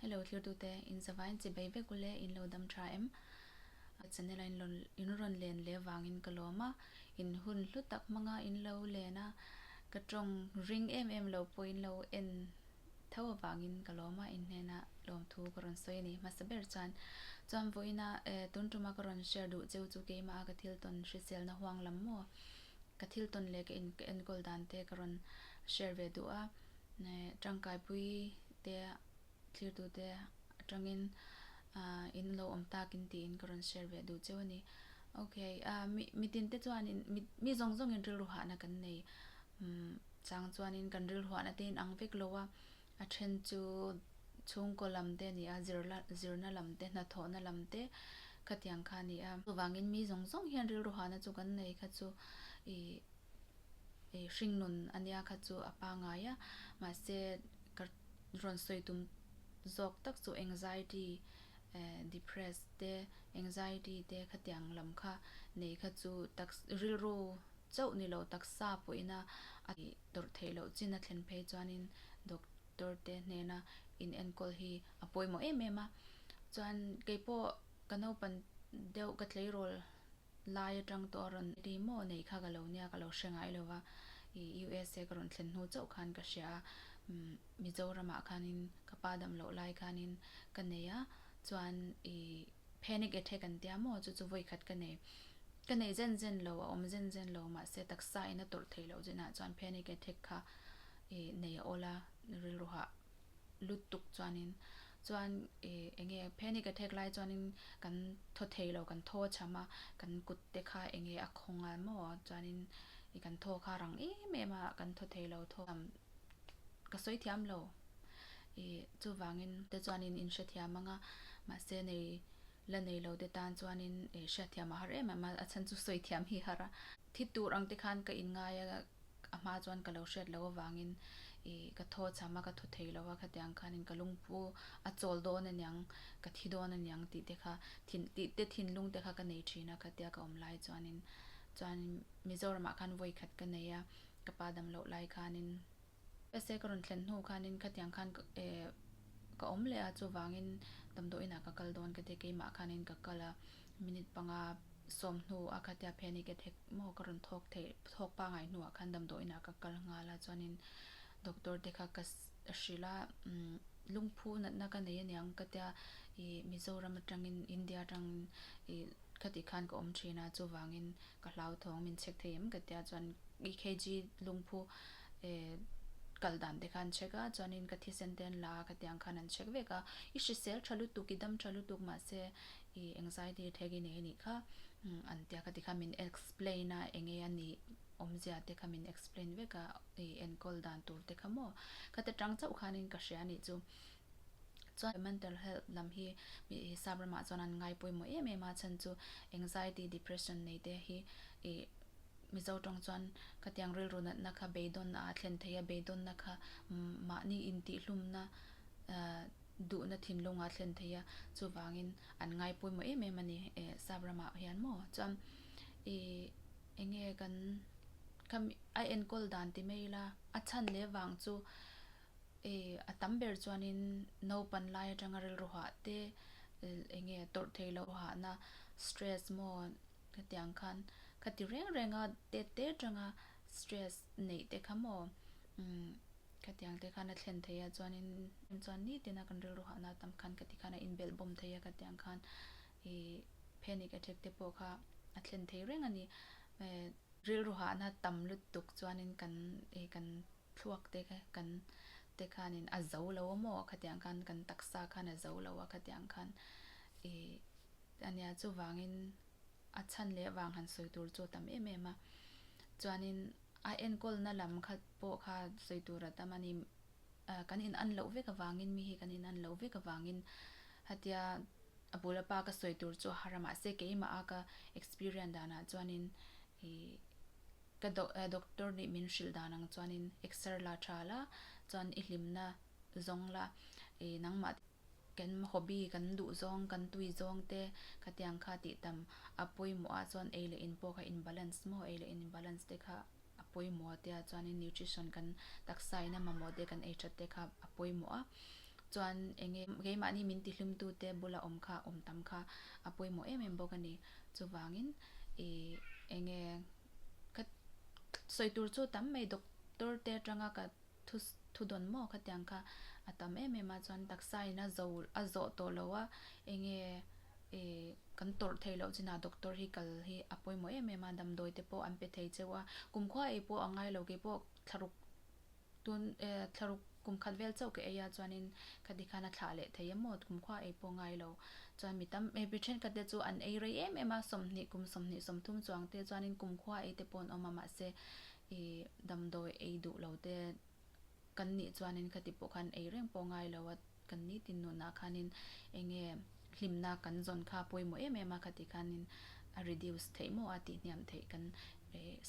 Hello thirtute, in zava in chibei vek u le, in lo dam tha em? A channel a in rawn len leh vangin ka lawm a, in hun hlu tak hmanga in lo len a, ka tawng ring em em lo pawhin lo en tho avangin ka lawm a, in hnena lawmthu ka rawn sawi a ni. Hmasa ber chuan chuan vawiina tun tuma ka rawn share duh cheu chu keimaha ka thil tawn hriselna huang lam maw, ka thil tawn leh ka enkawl dan te ka rawn share ve duh a, tangkaipui. te, tlirtu te atangin in lo awm takin tiin ka rawn share ve duh cheu a ni. Ok, mi tin te chuanin mi zawng zawngin rilruahna kan nei. Chang chuanin kan rilruahna te in ang vek lo a, a then chu chhungkaw lam te a ni a, zirna lam te, hnathawhna lam te khatiang kha a ni a. Chuvangin mi zawng zawng hian rilruahna chu kan nei kha chu ih hringnawn ania kha chu a pa ngai a, mahse ka rawn sawi tum zawk tak chu anxiety eh depress te anxiety te khatiang lam kha nei kha chu tak rilru chauh ni lo taksa pawhin a ih tawrh theih loh chin a thlen phei chuanin doctor te hnena in enkawl hi a pawimawh em em a, chuan keipawh ka naupan deuh ka tleirawl Lai atang tawh a rawn ri maw neih kha ka lo nia ka lo hre ngai lo va, i usa ka rawn thlen hnu chauh khan ka hria a, umm Mizoramah khanin ka pa dam loh lai khanin ka nei a, chuan i panic attack an tia maw chu chu vawi khat ka nei, ka nei zen zen lo a awm zen zen lo mahse taksa in a tawrh theih loh zinah chuan panic attack kha i nei a awla rilru hah. lutuk chuanin chuan i enge phenin ka thek lai chuanin kan thaw theilo kan thaw a chham a kan kut te kha enge a khaw nghal maw chuanin i kan thaw kha a rang em em a kan thaw theilo thaw lam ka sawi thiamlo i chuvangin te chuanin in hrethiam anga mahse nei la neilo te tan chuanin e hriatthiam a har em em a a chhan chu sawi thiam hi har a thi tur ang te khan ka in ngai a. a hma chuan ka lo hriat loh avangin ih ka thaw cham a, ka thu thei lo a, khatiang khanin ka lungphu a chawl dawn a niang, ka thi dawn a niang tih te kha thin tih te thinlung te kha ka nei thin a, khatia ka awm lai chuanin chuanin Mizoramah khan vawi khat ka nei a, ka pa dam loh lai khanin se ka rawn thlen hnu khanin khatiang khan ka eh ka awm leh a, chuvangin damdawiinah ka kal dawn ka ti a, keimah khanin ka kal a, Minute panga sawm hnu a kha tiah panic attack maw ka rawn thawk theih thawk pangai hnuah khan damdawiinah ka kal nghal a chuanin doctor te kha ka hrilh a umm lungphu natna ka nei aniang ka tia i Mizoram atangin India atangin i khatih khan ka awm thin a chuvangin ka hlauthawng min check thei em ka tia chuan EKG lungphu e kal dan te khan check a chuanin ka thisen te an la a khatiang khan an check vek a i hrisel tha lutuk i dam tha lutuk mahse I anxiety attack i nei anih kha an tia ka ti kha min explain a eng nge anih awmzia te kha min explain vek a i enkawl dan tur te kha maw ka ti atang chauh khan in ka hria anih chu chuan mental health lam hi mi Hrisap ram ah chuan an ngai pawimawh em em a chhan chu anxiety depression nei te hi i Mizo tawng chuan ka ti ang rilru nat na kha beidawn ah a thlen thei a beidawn na kha mahni in tih hlum na ah duhna thinlunga thlen thei a, chuvangin an ngai pawimawh em em a ni eh sap ramah hian maw chuan i eng nge kan khami a enkawl dan ti mai ila a chhan leh vang chu i a tam ber chuanin naupan lai atanga rilru hah te eng nge tawrh theilo hahna stress maw hetiang khan khati reng renga te te tanga stress neih te kha maw umm. Khatiang te khan a thlen thei a, chuanin em chuan ni tina kan rilru hah na tam khan ka ti khan a inbelh bawm thei a, khatiang khan i panic attack te pawh kha a thlen thei reng a ni. Hee. Rilru hah na tam lutuk chuanin kan i kan thluak te kha kan te khanin a zo lo maw khatiang khan kan taksa khan a zo lo a, khatiang khan i a nia chuvangin a chhan leh vang han sawi tur chu a tam em em a, chuanin. A enkawlna lam khat pawh kha sawi tur a tam a ni. Kan in an loh vek avangin, mi hi kan in an loh vek avangin hetia a bula pa ka sawi tur chu a har a. Mahse keimaha ka experience danah chuanin i ka doctor nih min hrilh dan ang chuanin exer la tha la chuan i hlimna zawng la i nangmah te. Kan hobby kan duh zawng, kan tui zawng te ka tiang kha tih tam a pawimawh a chuan ei leh in pawh kha in balance maw? Ei leh in balance te kha a pawimawh a tia chuanin nutrition kan taksa in a mamawh te kan ei that te kha a pawimawh a chuan enge keimahni min tihlumtu te bula awm kha awm tam kha a pawimawh em em bawk a ni chuvangin ih enge ka sawi tur chu tam mai doctor te atanga ka Thu thu dawn maw ka tiang kha a tam em em a chuan taksa in a zo a zawh tawh lo a enge ih kan tawrh thei loh chin ah doctor hi kal hi a pawimawh em em a damdawi te pawh an pe thei cheu a kumkhua ei pawh a ngai lo kei pawh thlaruk tun eh thlaruk kum khat vel chauh ka ei a chuan in ka ti khan a thlah leh thei a maw kumkhua ei pawh a ngai lo chuan mi tam eh mi then khat te chu an ei rei em em a sawmhnih kum sawmhnih sawmthum chuang te chuan in kumkhua ei te pawh an awm a mahse I damdawi ei duh lo te kan nih chuanin khati pawh khan ei reng pawh ngai lo a, kan ni tinunah khanin enge hlimna kan zawn kha a pawimawh em em a, khati khanin a reduce theih maw a tih hniam theih kan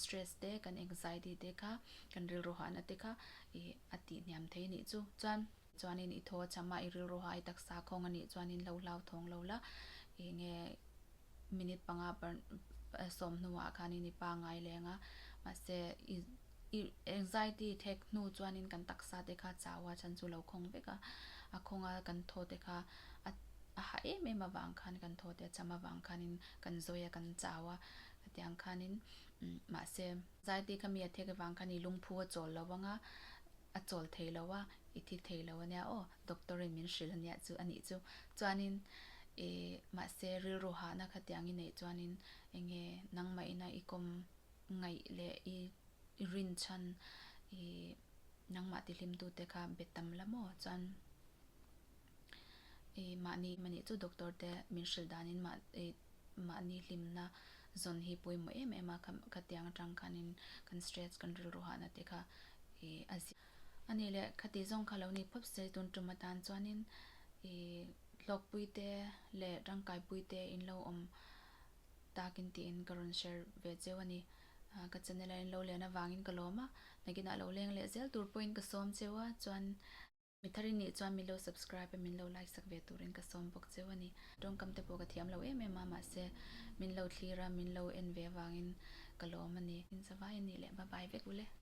stress te kan anxiety te kha kan rilru hahna te kha i a tih hniam thei anih chu. Chuan. Chuanin i thaw a cham a, i rilru ha i taksa khawng a nih chuan in lo hlau thawng lo la, i nge minute panga sawm hnuah khanin i pa ngai leng a, mahse i i anxiety i thek hnu chuanin kan taksa te kha chau a chhan chu lo khawng vek a, a khawng a kan thaw te kha a a hah em em avang khan kan thaw te a cham avang khanin kan zawi a kan chau a, hetiang khanin mahse anxiety kha mi a thek avang khan i lungphu a chawl lo vang a, A chawl thei lo a, i thi thei lo ania aw, doctor in min hrilh ania chu a nih chu. Chuanin i, mahse rilru hahna kha tiang i neih chuanin enge nangmah ina i kawm ngaih leh i rin chhan i nangmah tihlimtute kha be tam la maw? Chuan i mahni mahni chu doctor te min hrilh danin mah i mahni hlimna zawn hi pawimawh em em a, khatiang atang khanin kan stress kan rilru hahna te kha i a ziah a ni le, khati zawng kha lo ni phawp si a, tun tum atan chuanin i hlawkpui te leh tangkaipui te in lo awm takin tiin ka rawn share ve cheu a ni, ka channel a in lo lian avangin ka lawm a, nakinah lo leng leh zel tur pawhin ka sawm cheu a, chuan. Mi thari nih chuan min lo subscribe a min lo like sak ve turin ka sawm bawk cheu a ni. Tawngkam te pawh ka thiam lo em em a mahse min lo thlir a min lo en ve avangin ka lawm a ni. Inchavaia nih leh bye bye vek u le.